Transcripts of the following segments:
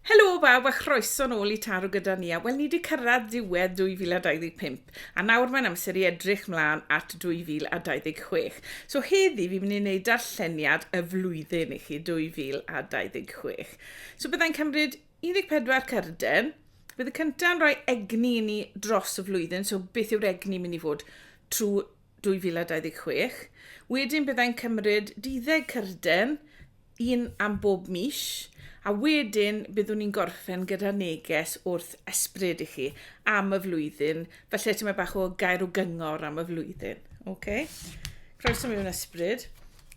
Helo bawb a chroeso nôl i Taro gyda ni a wel ni wedi cyrraedd diwedd 2025 a nawr mae'n amser i edrych mlaen at 2026. So heddi fi'n mynd i wneud darlleniad y flwyddyn i chi 2026. So byddai'n cymryd 14 cyrden, bydd y cyntaf yn rhoi egni i ni dros y flwyddyn, so beth yw'r egni mynd i fod trwy 2026. Wedyn byddai'n cymryd duddeg cyrden, un am bob mis, a wedyn byddwn ni'n gorffen gyda neges wrth esbryd i chi am y flwyddyn, felly ti'n meddwl bach o gair o gyngor am y flwyddyn. Okay? Croeso mewn esbryd.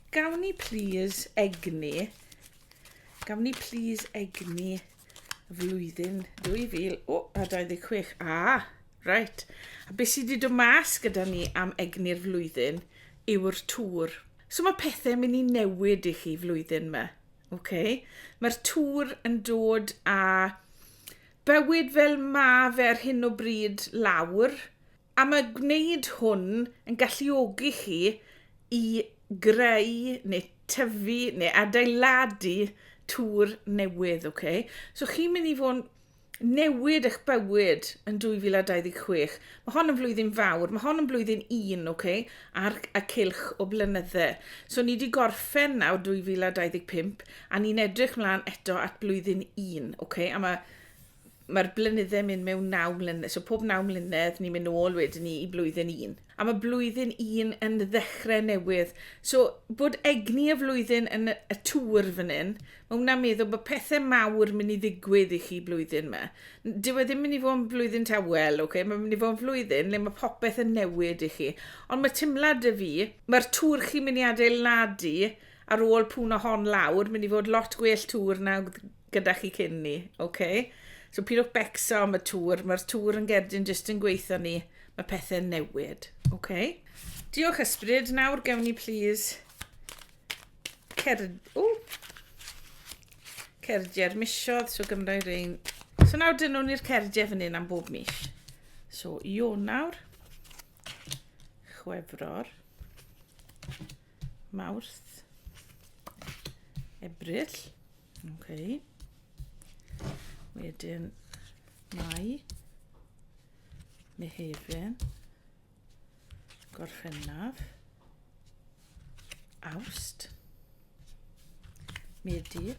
Gawn ni please egni Gawn ni please egni flwyddyn 2000, o, a 26. Ah, right. A beth sydd wedi dod mas gyda ni am egni'r flwyddyn yw'r tŵr. So mae pethau mynd i newid i chi flwyddyn yma. Okay? Mae'r tŵr yn dod a bywyd fel ma fe ar hyn o bryd lawr, A mae gwneud hwn yn galluogi chi i greu neu tyfu neu adeiladu tŵr newydd, ok? So chi'n mynd i fod yn newid eich bywyd yn 2026. Mae hon yn flwyddyn fawr, mae hon yn blwyddyn un, ok? Ar y cilch o blynydde. So ni wedi gorffen nawr 2025 a ni'n edrych mlaen eto at blwyddyn un, ok? A mae mae'r blynydde'n mynd mewn naw mlynedd, so pob naw mlynedd ni'n mynd nôl wedyn ni i blwyddyn un. A mae blwyddyn un yn ddechrau newydd. So bod egni y flwyddyn yn y tŵr fan hyn, mae hwnna'n meddwl bod pethau mawr mynd i ddigwydd i chi blwyddyn yma. Dyw e ddim mynd i fod yn blwyddyn tawel, okay? mae'n mynd i fod yn flwyddyn le mae popeth yn newid i chi. Ond mae timlad y fi, mae'r tŵr chi'n mynd i adeiladu ar ôl pwn o hon lawr, mynd i fod lot gwell tŵr na gyda chi cyn ni, oce? Okay? So pidwch becso am y tŵr, mae'r tŵr yn gerdyn jyst yn gweithio ni, mae pethau'n newid, oce? Okay? Diolch ysbryd, nawr gewn ni plîs cerd... O! Cerdiau'r misiodd, so gymryd i'r ein... So nawr dyn nhw'n i'r cerdiau fan hyn am bob mis. So, Ionawr, Chwefror, Mawrth. Ebrill. Okay. Wedyn Mai. Mehefin. Gorffennaf. Awst. Medi.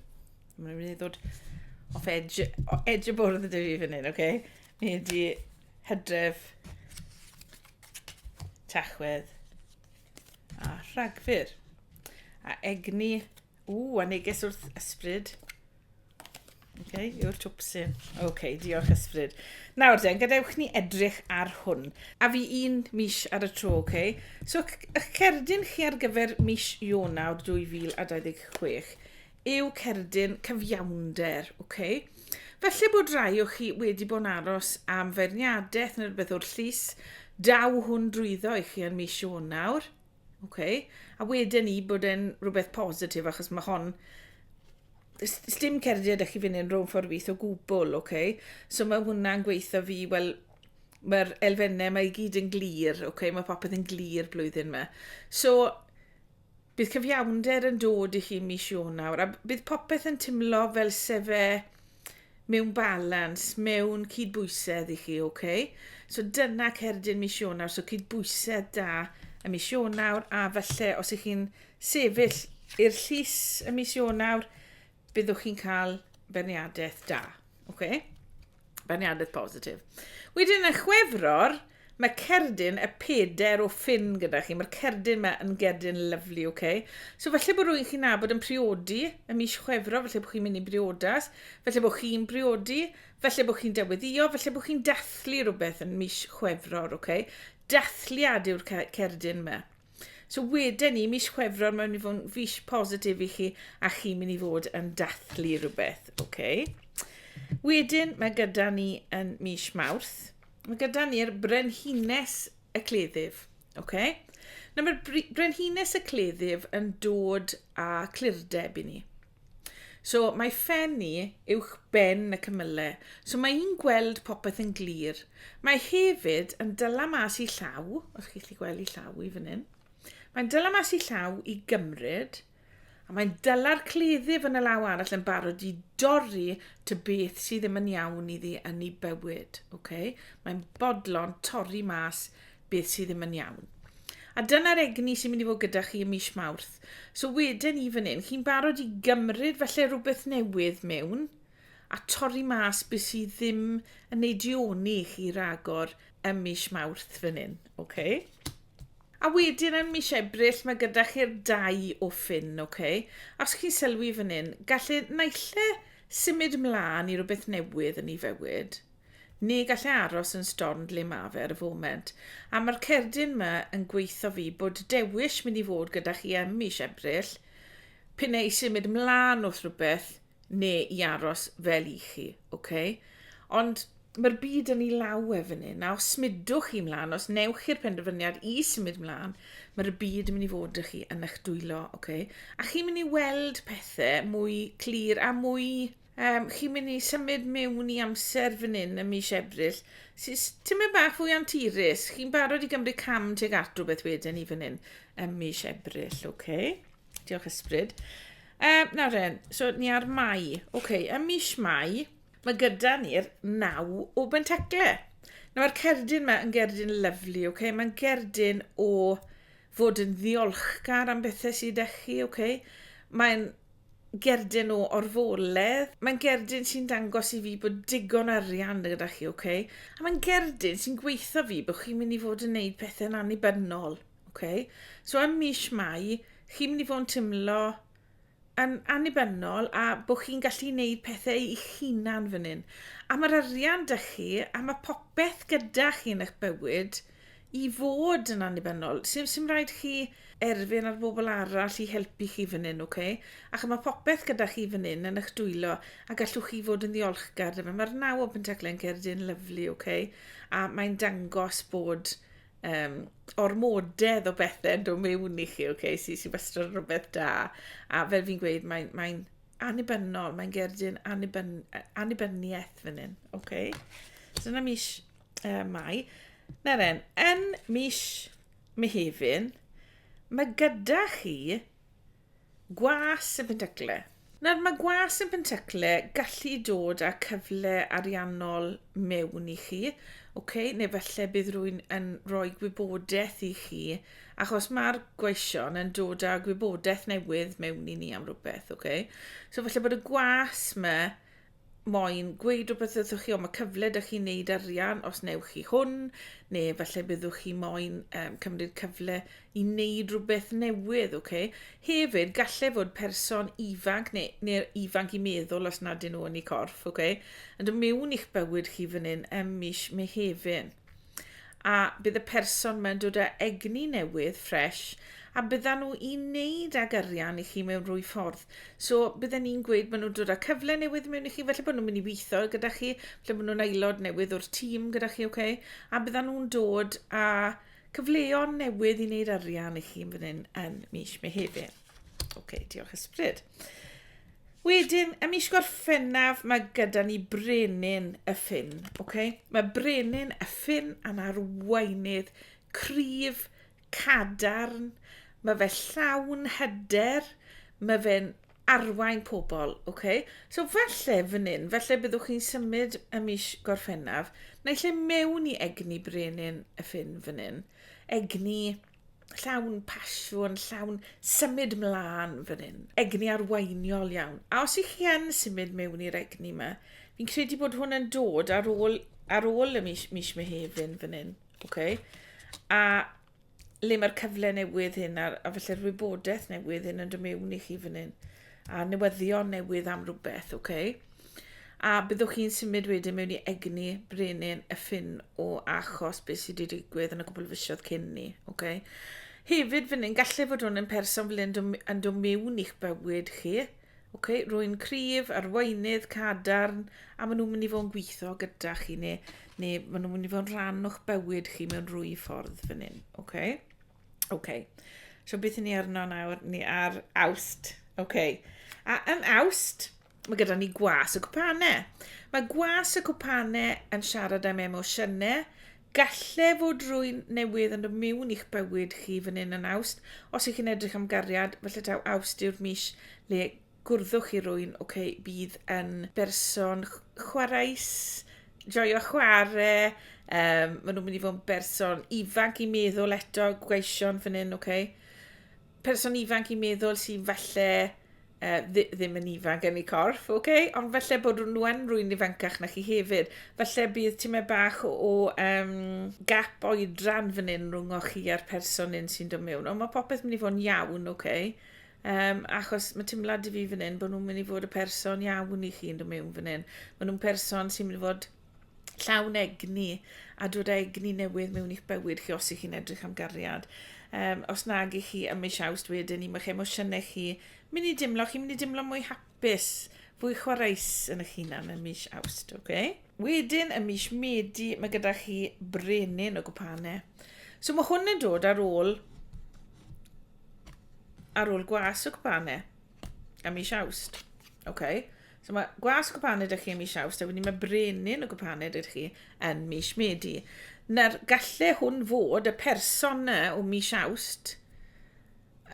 Mae'n rhaid i ddod off edge, off edge y bwrdd ydw i fan hyn, oce? Okay? Mi ydi hydref, tachwedd, A rhagfyr. A egni. Ww, a neges wrth ysbryd. Okay, yw'r twpsyn. Okay, diolch ysbryd. Nawr den, gadewch ni edrych ar hwn. A fi un mis ar y tro, okay? So, ych cerdyn chi ar gyfer mis Ionawr 2026 yw cerdyn cyfiawnder, ok? Felly bod rai o chi wedi bod yn aros am feirniadaeth neu rhywbeth o'r llys, daw hwn drwyddo i chi yn mis Ionawr, ok? A wedyn i bod yn rhywbeth positif, achos mae hon dim cerdded â chi fynd yn rhwng ffordd wyth o gwbl, ok? So mae hwnna'n gweithio fi, wel, mae'r elfennau mae i gyd yn glir, ok? Mae popeth yn glir blwyddyn yma. So, Bydd cyfiawnder yn dod i chi mis Ionawr a bydd popeth yn timlo fel sefe mewn balans, mewn cydbwysedd i chi, ok? So dyna cerdyn mis Ionawr, so cydbwysedd da y mis Ionawr a falle os ych chi'n sefyll i'r llys y mis Ionawr, byddwch chi'n cael berniadaeth da. Okay? Berniadaeth positif. Wedyn y chwefror, mae cerdyn y peder o ffyn gyda chi. Mae'r cerdyn mae yn gerdyn lyflu, oce? Okay? So falle bod rwy'n chi'n nabod yn priodi y mis chwefro, falle bod chi'n mynd i briodas, falle bod chi'n briodi, falle bod chi'n deweddio, falle bod chi'n dathlu rhywbeth yn mis chwefror, oce? Okay? Dathliad yw'r cerdyn mae. So wedyn ni, mis Chwefror, mae'n mynd i fod yn fis positif i chi a chi'n mynd i fod yn dathlu rhywbeth. Okay. Wedyn mae gyda ni yn mis Mawrth, mae gyda ni'r brenhines y cleddyf. Okay. Nawr mae'r brenhines y cleddyf yn dod â clirdeb i ni. So, mae phen i uwch ben y cymyle, so mae i'n gweld popeth yn glir. Mae hefyd yn dyla mas i llaw, os chi'n gallu gweld i llaw i fan hyn. Mae'n dyla mas i llaw i gymryd, a mae'n dyla'r cleddyf yn y law arall yn barod i dorri ty beth sydd ddim yn iawn iddi yn ei bywyd. Okay? Mae'n bodlon torri mas beth sydd ddim yn iawn. A dyna'r egni sy'n mynd i fod gyda chi ym mis Mawrth. So wedyn i fan hyn, chi'n barod i gymryd felly rhywbeth newydd mewn a torri mas beth sydd ddim yn ei dioni i chi ragor ym mis Mawrth fan hyn. Okay? A wedyn yn mis Ebrill mae gyda chi'r dau o ffyn, okay? Os chi'n sylwi fan hyn, gallu naill e symud ymlaen i rhywbeth newydd yn ei fywyd, Ni gall e aros yn stornd le ma fe ar y foment. A ma'r cerdyn ma yn gweitho fi bod dewish mynd i fod gyda chi em mish Ebrill, p'un ai symud mlan wrth rwbeth ne i aros fel i chi, ok? Ond ma'r byd yn i law e fyn hyn, a os smudwch chi mlan, os newch chi'r penderfyniad i symud mlan, mae'r byd yn mynd i fod â chi yn eich dwylo, ok? A chi'n mynd i weld pethe mwy clir a mwy Yym, chi'n mynd i symud mewn i amser fan hyn ym mis Ebrill, sy'n tymed bach fwy anturus. Chi'n barod i gymryd cam tuag at rhywbeth wedyn ni fan hyn ym mis Ebrill, oce? Okay? Diolch ysbryd. Um, nawr ren, so ni ar Mai. Oce, okay, ym mis Mai, mae gyda ni'r naw o bentacle. Nawr, mae'r cerdyn yma yn gerdyn lyflu, oce? Okay? Mae'n gerdyn o fod yn ddiolchgar am bethau sydd â chi, oce? Okay? Mae'n gerdyn o orfoledd. Mae'n gerdyn sy'n dangos i fi bod digon arian gyda chi, oce? Okay? A mae'n gerdyn sy'n gweithio fi bod chi'n mynd i fod yn neud pethau'n annibynnol, oce? Okay? So ym mis Mai, chi'n mynd i fod yn teimlo yn annibynnol a bod chi'n gallu wneud pethau eich hunan fan hyn. A mae'r arian da chi, a mae popeth gyda chi yn eich bywyd, i fod yn annibynnol. Sim, sim rhaid chi erfyn ar bobl arall i helpu chi fan hyn, oce? Okay? Ac mae popeth gyda chi fan hyn yn eich dwylo a gallwch chi fod yn ddiolchgar dyma. Mae'r naw open teclen cerdyn lyflu, oce? Okay? A mae'n dangos bod um, ormodedd o bethau yn dod mewn i chi, oce? Okay? Sy'n sy wastad yn rhywbeth da. A fel fi'n gweud, mae'n mae annibynnol, mae'n gerdyn annibyn, annibyniaeth fan hyn, oce? Okay? So dyna mis uh, Mai. Neren, yn mis Mehefin, mae gyda chi gwas yn Pentycle. Nawr, mae gwas yn Pentycle gallu dod â cyfle ariannol mewn i chi, okay? neu felly bydd rwy'n yn rhoi gwybodaeth i chi, achos mae'r gweision yn dod â gwybodaeth newydd mewn i ni am rhywbeth. Okay? So felly bod y gwas yma moyn gweud rhywbeth wrthych chi, ond mae cyfle da chi'n neud arian os newch chi hwn, neu falle byddwch chi moyn um, cymryd cyfle i wneud rhywbeth newydd, oce? Okay? Hefyd, gallai fod person ifanc neu, neu ifanc i meddwl os nad yn nhw yn ei corff, oce? Okay? Yn dod mewn i'ch bywyd chi fan hyn ym mis Mehefin. a bydd y person mae'n dod â egni newydd, ffresh, a byddan nhw i wneud ag arian i chi mewn rhwy ffordd. So, bydden ni'n gweud maen nhw'n dod â cyfle newydd mewn i chi, felly bod nhw'n mynd i weithio gyda chi, felly bod nhw'n aelod newydd o'r tîm gyda chi, okay? a byddan nhw'n dod â cyfleon newydd i wneud arian i chi yn fan hyn yn mis Mehefin. Oce, okay, diolch ysbryd. Wedyn, ym mis Gorffennaf, mae gyda ni brenin y ffin. Okay? Mae brenin y ffin yn arweinydd cryf, cadarn, mae fe llawn hyder, mae fe'n arwain pobl. Okay? So falle fan hyn, falle byddwch chi'n symud y mis Gorffennaf, neu lle mewn i egni brenin y ffin fan hyn. Egni llawn pasiwn, llawn symud mlaen fan hyn. Egni arweiniol iawn. A os ych chi yn symud mewn i'r egni yma, fi'n credu bod hwn yn dod ar ôl, ar ôl y mis, mis Mehefin fan hyn. Okay? A le mae'r cyfle newydd hyn a'r, a felly'r wybodaeth newydd hyn yn dod mewn i chi fan hyn. a newyddion newydd am rhywbeth, ok? A byddwch chi'n symud wedyn mewn i egni brenin y ffin o achos beth sydd wedi digwydd yn y cwbl fisiodd cyn ni, ok? Hefyd fan hyn, gallai fod hwn yn person fel yn dod mewn i'ch bywyd chi, ok? Rwy'n cryf, arweinydd, cadarn, a maen nhw'n mynd i fod yn gweithio gyda chi, neu, neu maen nhw'n mynd i fod yn rhan o'ch bywyd chi mewn rwy ffordd fan hyn, ok? Oce. Okay. So beth ni arno nawr? Ni ar awst. Oce. Okay. A yn awst, mae gyda ni gwas y cwpanau. Mae gwas y cwpanau yn siarad am emosiynau. Galle fod rwy'n newydd yn dod mewn i'ch bywyd chi fan hyn yn awst. Os ych chi'n edrych am gariad, felly taw awst yw'r mis le gwrddwch i rwyn ok bydd yn berson chwareus joio chware um, maen nhw'n mynd i fod yn berson ifanc i meddwl eto gweision fan hyn ok person ifanc i meddwl sy'n falle uh, ddim yn ifanc yn ei corff, ok? Ond falle bod nhw yn rwy'n ifancach na chi hefyd. Falle bydd ti'n meddwl bach o, o um, gap oedran fan hyn rhwng o chi a'r person un sy'n dod mewn. Ond mae popeth mynd i fod yn iawn, ok? Um, achos mae teimlad i fi fan hyn bod nhw'n mynd i fod y person iawn i chi'n dod mewn fan hyn. Mae nhw'n person sy'n mynd i fod llawn egni a dod â egni newydd mewn i'ch bywyd chi os ych chi'n edrych am gariad. Um, os nag i chi ym mis awst wedyn i mae'ch emosiynau chi mynd i dimlo, chi'n mynd i dimlo mwy hapus Byth. Fwy chwareus yn eich hunan yn mis Awst, ok? Wedyn, y mis Medi, mae gyda chi brenin o gwpane. So mae hwn yn dod ar ôl ar ôl gwas o gwpane a mis Awst. Ok? So mae gwas o gwpane ydych chi yn mis Awst, a wedyn mae brenin o gwpane ydych chi yn mis Medi. Na'r galle hwn fod y person o mis Awst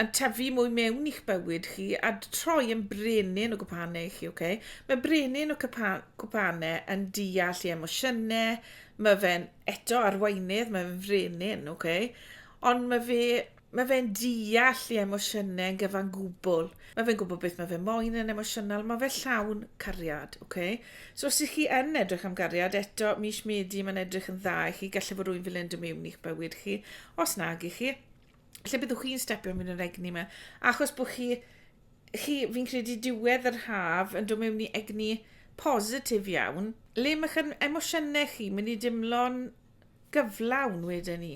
yn tyfu mwy mewn i'ch bywyd chi a troi yn brenin o gwpanau chi, oce? Okay? Mae brenin o gwpanau yn deall i emosiynau, mae fe'n eto arweinydd, mae fe'n frenin, oce? Okay? Ond mae fe Mae fe'n deall i emosiynau yn gyfan gwbl. Mae fe'n gwybod beth mae fe moyn yn emosiynol. Mae fe llawn cariad, oce? Okay? So os ydych chi yn edrych am gariad, eto, mis Medi, mae'n edrych yn dda i chi. Gallu bod rwy'n fel yn dymewn i'ch bywyd chi, os nag i chi. lle byddwch chi'n stepio mewn yr egni yma? Achos bod chi, chi fi'n credu diwedd yr haf yn dod mewn i egni positif iawn, le mae'ch emosiynau chi mynd i dimlo'n gyflawn wedyn ni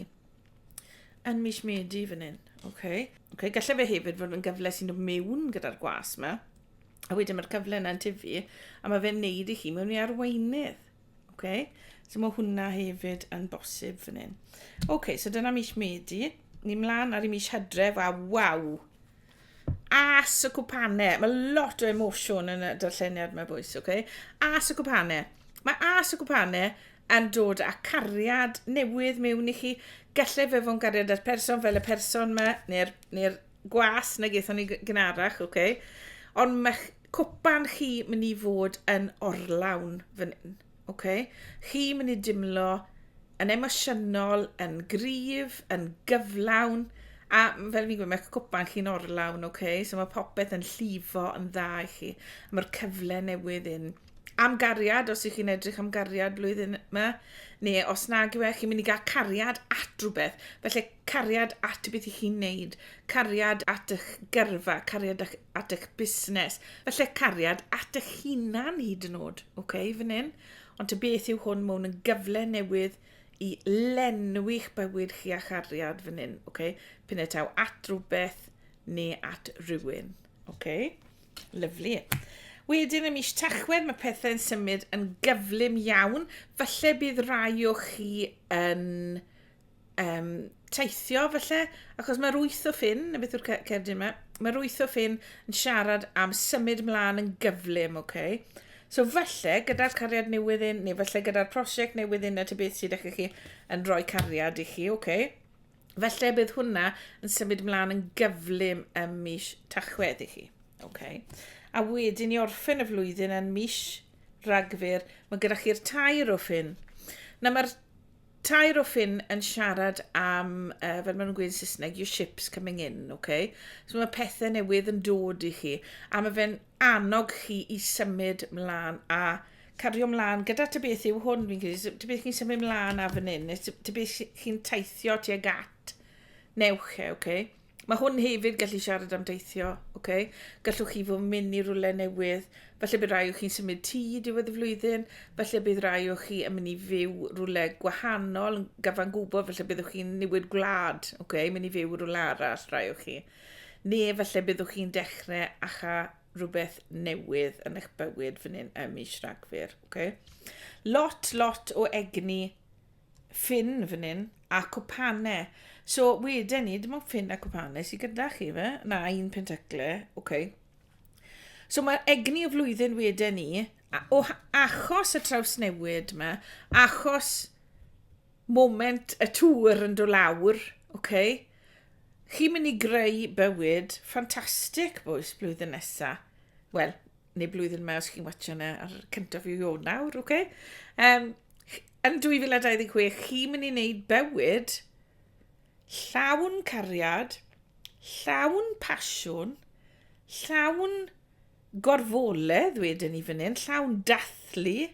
yn mis Medi fan hyn. Okay. Okay, gallai fe hefyd fod yn gyfle sy'n dod mewn gyda'r gwas yma, a wedyn mae'r cyfle yna'n tyfu, a mae fe'n neud i chi mewn i arweinydd. Ok, so mae hwnna hefyd yn bosib fan hyn. Ok, so dyna mis Medi. Ni mlaen ar y mis Hydref, a waw! As y cwpanau. Mae lot o emosiwn yn y darlleniad mae bwys, ok? As y cwpanau. Mae as y cwpanau yn dod â cariad newydd mewn i chi. Gallai fe fod yn gariad at person fel y person yma, neu'r neu gwas na gaethon ni gynharach, ok? Ond mae cwpan chi mynd i fod yn orlawn fan hyn. Okay? Chi mynd i dimlo yn emosiynol, yn gryf, yn gyflawn, a fel fi'n gwybod, mae cwpan chi'n orlawn, okay? so mae popeth yn llifo yn dda i chi. Mae'r cyfle newydd yn am gariad, os ych chi'n edrych am gariad blwyddyn yma, neu os nag yw e, chi'n mynd i gael cariad at rhywbeth. Felly cariad at beth i chi'n neud, cariad at eich gyrfa, cariad at at eich busnes. Felly cariad at eich hunan hyd yn oed, oce, okay, fan hyn. Ond ty beth yw hwn, mae hwn yn gyfle newydd i lenwi'ch bywyd chi a chariad fan hyn, oce. Okay? Pyn y taw at rhywbeth neu at rhywun, oce. Okay? Lyflu. Wedyn y mis tachwedd mae pethau'n symud yn gyflym iawn. Falle bydd rai o chi yn um, teithio felly, achos mae'r wyth o ffyn, na beth yw'r cerdyn yma, mae'r wyth o ffyn yn siarad am symud mlaen yn gyflym, oce? Okay? So felly, gyda'r cariad newydd un, neu felly gyda'r prosiect newydd un, na ti beth sydd eich chi yn rhoi cariad i chi, oce? Okay? Felly bydd hwnna yn symud mlaen yn gyflym ym mis tachwedd i chi. Okay. A wedyn i orffen y flwyddyn yn mis ragfyr, mae gyda chi'r tair o ffyn. Na mae'r tair o ffin yn siarad am, uh, fel maen nhw'n gweud yn Saesneg, your ship's coming in, okay? So mae pethau newydd yn dod i chi, a mae fe'n annog chi i symud mlaen a cario mlaen gyda ty beth yw hwn, fi'n credu, ty beth chi'n symud mlaen a fan hyn, ty beth chi'n teithio tuag at, newch e, okay? Mae hwn hefyd gallu siarad am deithio, ok? Gallwch chi fod yn mynd i rwle newydd, felly bydd rhai o chi'n symud tŷ diwedd y flwyddyn, felly bydd rhai o chi yn mynd i fyw rwle gwahanol, yn gyfan gwybod, felly byddwch chi'n newid gwlad, ok? Mynd i fyw rwle arall, rhai o chi. Ne, felly byddwch chi'n dechrau acha rhywbeth newydd yn eich bywyd fan hyn ym mis Rhagfyr, ok? Lot, lot o egni ffin fan hyn, a cwpane. So, wedyn ni, dim ond ffin a cwpane sydd gyda chi, fe? Na, un pentacle, oce. Okay. So, mae'r egni y flwyddyn wedyn ni, o achos y trawsnewid yma, achos moment y tŵr yn dod lawr, oce, okay, chi'n mynd i greu bywyd ffantastig bwys blwyddyn nesaf. Wel, neu blwyddyn yma os chi'n watcha yna ar cyntaf i o nawr, oce? Okay? Um, Yn 2026, chi'n mynd i wneud bywyd llawn cariad, llawn pasiwn, llawn gorfoledd wedyn i fan hyn, llawn dathlu,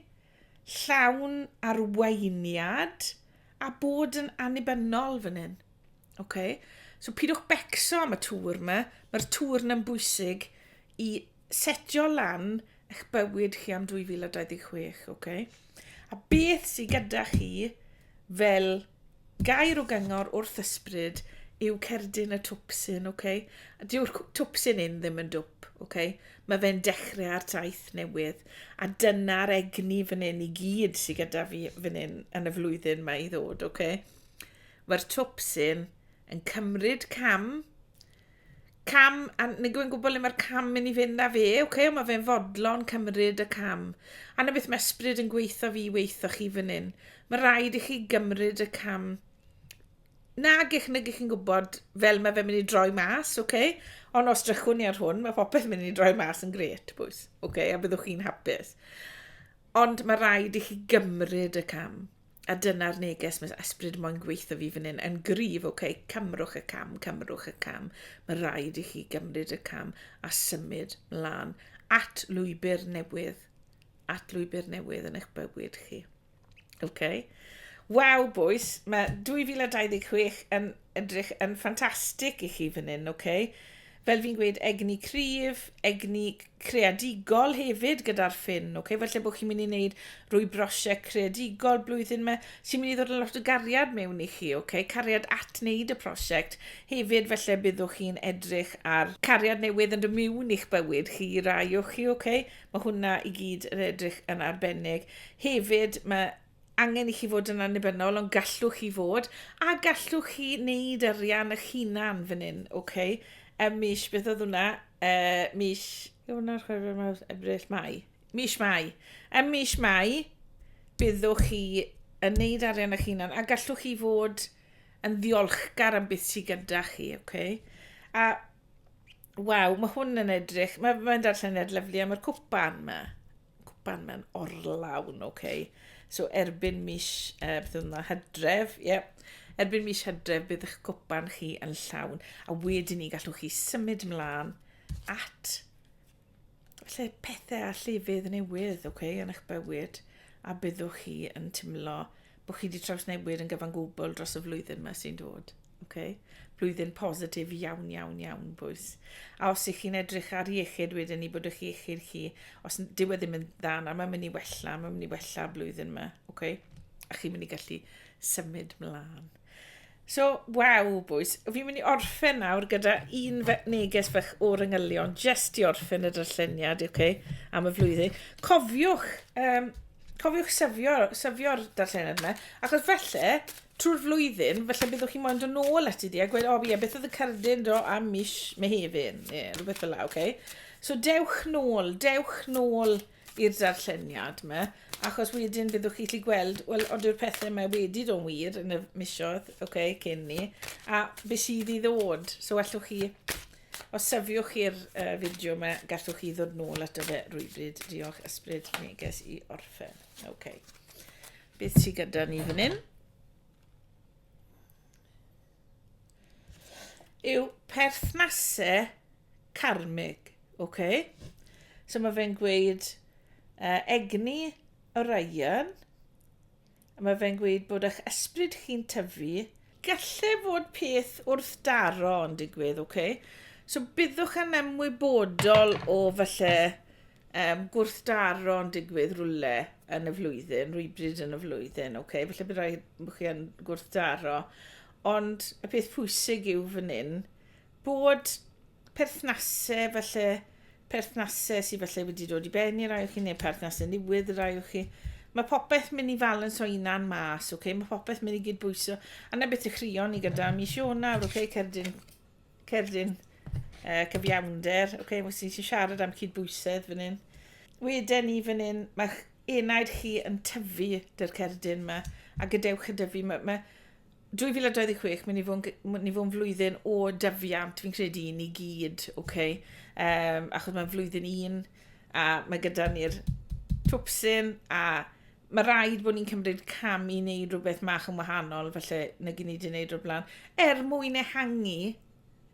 llawn arweiniad, a bod yn annibynnol fan hyn. Okay? So pidwch becso am y tŵr yma, mae'r tŵr yna'n bwysig i setio lan eich bywyd chi am 2026, ok? A beth sydd gyda chi fel gair o gyngor wrth ysbryd yw cerdyn y twpsyn, ok? A dyw'r twpsyn un ddim yn dwp, ok? Mae fe'n dechrau ar taith newydd, a dyna'r egni fan hyn i gyd sydd gyda fi fan hyn yn y flwyddyn mae i ddod, ok? Mae'r twpsyn yn cymryd cam Cam, a nid yw'n gwybod le mae'r cam mynd i fynd â fe, oce, okay, mae fe'n fodlon cymryd y cam. A na beth mae ysbryd yn gweithio fi weithio chi fan hyn. Mae rhaid i chi gymryd y cam nag eich nag chi'n gwybod fel mae fe'n mynd i droi mas, oce? Okay? Ond os drychwn ni ar hwn, mae popeth mynd i droi mas yn gret, bwys, oce? Okay? A byddwch chi'n hapus. Ond mae rhaid i chi gymryd y cam. A dyna'r neges mae ysbryd moyn gweithio fi fan hyn yn gryf, oce, okay, cymrwch y cam, cymrwch y cam. Mae rhaid i chi gymryd y cam a symud mlaen at lwybr newydd, at lwybr newydd yn eich bywyd chi. Oce? Okay? Waw, bwys, mae 2026 yn edrych yn ffantastig i chi fan hyn, oce? Okay? fel fi'n gweud, egni cryf, egni creadigol hefyd gyda'r ffin. Okay? Felly bod chi'n mynd i wneud rwy brosiect creadigol blwyddyn yma, sy'n mynd i ddod yn lot o gariad mewn i chi, okay? cariad at wneud y prosiect. Hefyd, felly byddwch chi'n edrych ar cariad newydd yn dymiwn i'ch bywyd chi, rai o chi, okay? mae hwnna i gyd yn edrych yn arbennig. Hefyd, mae angen i chi fod yn annibynnol, ond gallwch chi fod, a gallwch chi wneud arian eich hunan fan hyn, oce? Okay? Ym mis, beth oedd hwnna? Uh, mis, hwnna, chwerw, mawr, ebryll, mai. Mis mai. Ym mis mai, byddwch chi yn wneud arian eich hunan, a gallwch chi fod yn ddiolchgar am beth sydd gyda chi, oce? Okay? A, waw, mae hwn yn edrych, mae'n ma darllen yn edrych lyflu, a mae'r cwpan yma. cwpan mewn orlawn, ok. So erbyn mis, uh, beth oedd yna, hydref, ie. Yeah. Erbyn mis hydref bydd eich cwpan chi yn llawn, a wedyn ni gallwch chi symud mlaen at lle pethau a llefydd newydd, ok, yn eich bywyd, a byddwch chi yn teimlo bod chi wedi trawsnewid yn gyfan gwbl dros y flwyddyn yma sy'n dod. Okay? Blwyddyn positif iawn, iawn, iawn, bwys. A os ych chi'n edrych ar iechyd wedyn i bod ych iechyd chi, os dyw e ddim yn dda, na mae'n mynd i wella, mae'n mynd i wella blwyddyn yma. Okay? A chi'n mynd i gallu symud mlaen. So, waw, bwys. Fi'n mynd i orffen nawr gyda un fe neges fach o'r yngylion, jyst i orffen y darlleniad, oce, okay, am y flwyddyn. Cofiwch, um, cofiwch syfio'r syfio darlleniad yma, achos felly, trwy'r flwyddyn, felly byddwch chi'n moyn dod ôl at i di a gweud, o, oh, ie, beth oedd y cerdyn do am mis Mehefin, ie, yeah, rhywbeth fel la, oce. Okay. So, dewch nôl, dewch nôl i'r darlleniad 'ma, achos wedyn byddwch chi'n gallu gweld, wel, ond yw'r pethau yma wedi dod yn wir yn y misoedd, ok, cyn ni, a beth sydd i ddod. So allwch chi, os syfiwch chi'r uh, fideo yma, gallwch chi ddod nôl ato fe rhywbryd. Diolch ysbryd neges i orffen. Ok. Beth sydd gyda ni fan hyn? yw perthnasau carmig, ok? So mae fe'n gweud uh, egni Orion, a mae fe'n gweud bod eich ysbryd chi'n tyfu, gallu fod peth wrth daro yn digwydd, ok? So byddwch yn ymwybodol o falle Yym, gwrthdaro'n digwydd rwle yn y flwyddyn, rwybryd yn y flwyddyn, oce? Okay? Felly bydd rhaid bod chi yn gwrthdaro. Ond y peth pwysig yw fan hyn bod perthnasau felly perthnasau sydd felly wedi dod i ben i rai o chi neu perthnasau newydd i rai o chi. Mae popeth mynd i falans o unan mas, okay? mae popeth mynd i gydbwyso. A na beth i chrio ni gyda mis Ionawr, okay? cerdyn Cerdyn uh, cyfiawnder. Ok, wnes i siarad am cydbwysedd fan hyn. Weden ni fan hyn, mae enaid chi yn tyfu dy'r cerdyn yma, a gadewch y dyfu. Mae, mae 2026, mynd i fod yn flwyddyn o dyfiant, fi'n credu i ni gyd, oce? Okay? Um, achos mae'n flwyddyn un, a mae gyda ni'r twpsyn, a Mae rhaid bod ni'n cymryd cam i wneud rhywbeth mach yn wahanol, felly, nag i ni wedi wneud o'r blaen, er mwyn ehangu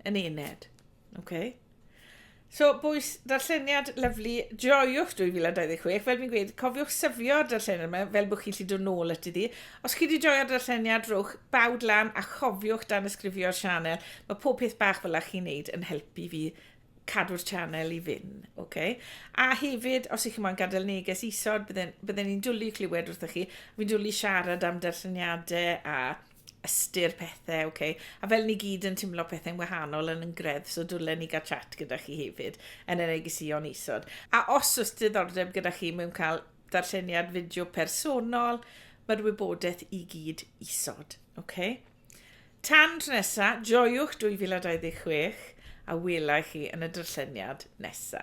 yn ened. Okay? So, bwys, darlleniad lyflu, joiwch 2026. Fel fi'n gweud, cofiwch syfio'r darlleniad yma fel bod chi'n lli dod nôl at iddi. Os chi wedi joio'r darlleniad, rhowch bawd lan a chofiwch dan ysgrifio'r sianel. Mae pob peth bach fel chi'n neud yn helpu fi cadw'r channel i fyn, oce? A hefyd, os ych chi moyn gadael neges isod, bydden, bydden ni'n dwlu clywed wrthych chi. Fi'n dwlu siarad am darlleniadau a ystyr pethau, oce? A fel ni gyd yn timlo pethau'n wahanol yn yn gredd, so dwlen ni gael chat gyda chi hefyd yn y negesion isod. A os oes diddordeb gyda chi mewn cael darlleniad fideo personol, mae'r wybodaeth i gyd isod, oce? Tan tro nesa, joiwch 2026 a wela i chi yn y darlleniad nesa.